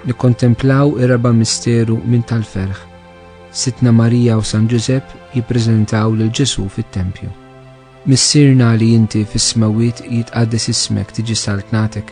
nikkontemplaw ir-raba' misteru minn tal-ferħ. Sitna Marija u San Ġużepp jippreżentaw lil Ġesu fit-tempju. Missirna li inti fis-smewwiet jitqaddes ismek tiġi saltnatek,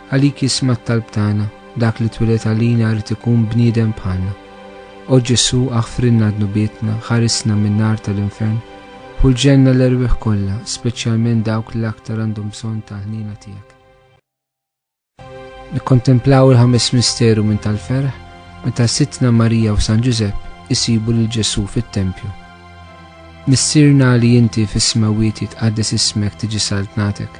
Għalik jisma' t-talb tagħna, dak li twiled għalina jrid ikun bniedem bħalna. O Ġesù, aħfrilna dnubietna, ħarisna min-nar tal-infern, ħulġenna l-erwieħ kollha, speċjalment dawk li l-aktar għandhom bżonn tal-ħniena tiegħek. Nikkontemplaw il-ħames misteru minn tal-ferħ meta Sidtna Marija u San Ġużepp isibu lil Ġesù fit-tempju. Missierna li inti fis-smewwiet jitqaddes ismek tiġi saltnatek,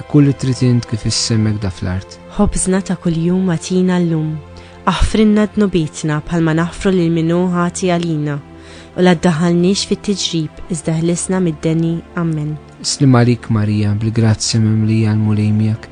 ikun li trid int kif is-semek da fl-art. Ħobżna ta' kuljum agħtina llum. Aħfrilna dnubietna bħalma naħfru lil min hu ħati għalina, u la ddaħħalniex fit-tiġrib iżda ħlisna mid-deni. Ammen. Sliem għalik Marija, bil-grazzja mimlija l-Mulej miegħek.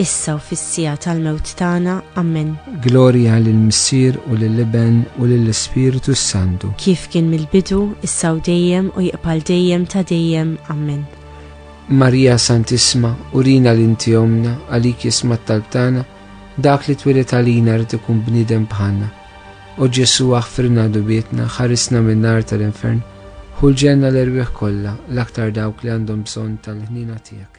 issa u fis-siegħa tal-mewt tagħna. Ammen. Glorja lill-Missier u lill-Iben u lill-Ispirtu s-Santu. Kif kien mill-bidu, issa u dejjem u jibqa' dejjem ta' dejjem. Ammen. Marija Santissima, urina li inti omna, għalik jisma' t-talb tagħna, dak li twieled għalina rid ikun bniedem bħalna. O Ġesu aħfirna dubietna, ħarisna min-nar tal-infern, ħu l-ġenna l-erwieħ kollha, l-aktar dawk li għandhom bżonn tal-ħniena tiegħek.